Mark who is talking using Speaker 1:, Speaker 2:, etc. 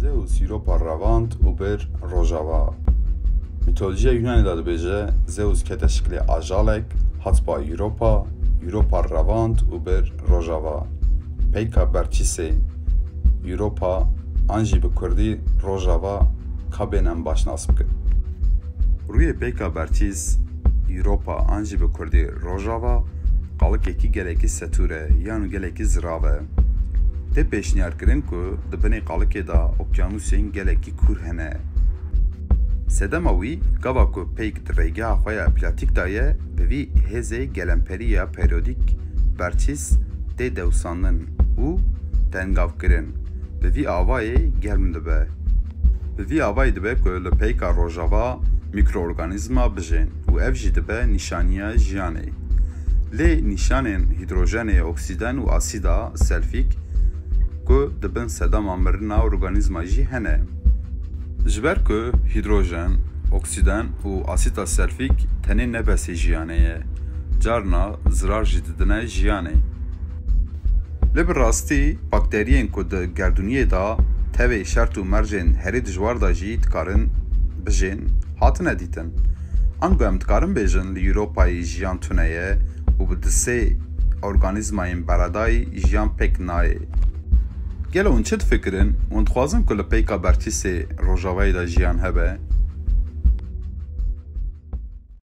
Speaker 1: Zeus Europa revand û bir rojava. Mîtolojiya Yûnanê de dibêje Zeus kete şiklê ajalek, hat ba Europa, Europa revand û bir rojava. Peyka berçîsê Europa an jî bi kurdî rojava ka bên em baş nas bikin. Rûyê peyka berçîs Europa an jî bi kurdî rojava qalikekî gelekî setûr e yan gelekî zirav e. Tê pêşniyarkirin ku di binê qalikê de okyanusên gelekî kûr hene. Sedema wî, gava ku peyk di rêgeha xwe ya platîk de ye, bi vî hêzê gelemperî ya perîyodîk, berçîs, tê dewsandin û tengavkirin. Bi vî avayê germ dibe. Bi vî avayê dibe ku li peyka rojava mîkroorganîzma bijên. û ev jî dibe nîşaniya jiyanê. Lê nîşanên hîdrojenê, oksîden û asîda selfîk ku di bin sedama mirina organîzma jî hene. Ji ber ku hîdrojen, oksîden û asîda selfîk tenê ne besê jiyanê ye, carna zirar jî didine jiyanê. Lê bi rastî bakteriyên ku di gerdûniyê de tevê şert û mercên herî dijwar de jî dikarin bijên. hatine dîtin. Ango em dikarin bêjin li Ewropayê jiyan tune ye û bi du sê organîzmayên beredayî jiyan pêk nayê. Gelo hûn çi difikirin? Hûn dixwazin ku li peyka berçî sê rojavayê de jiyan hebe?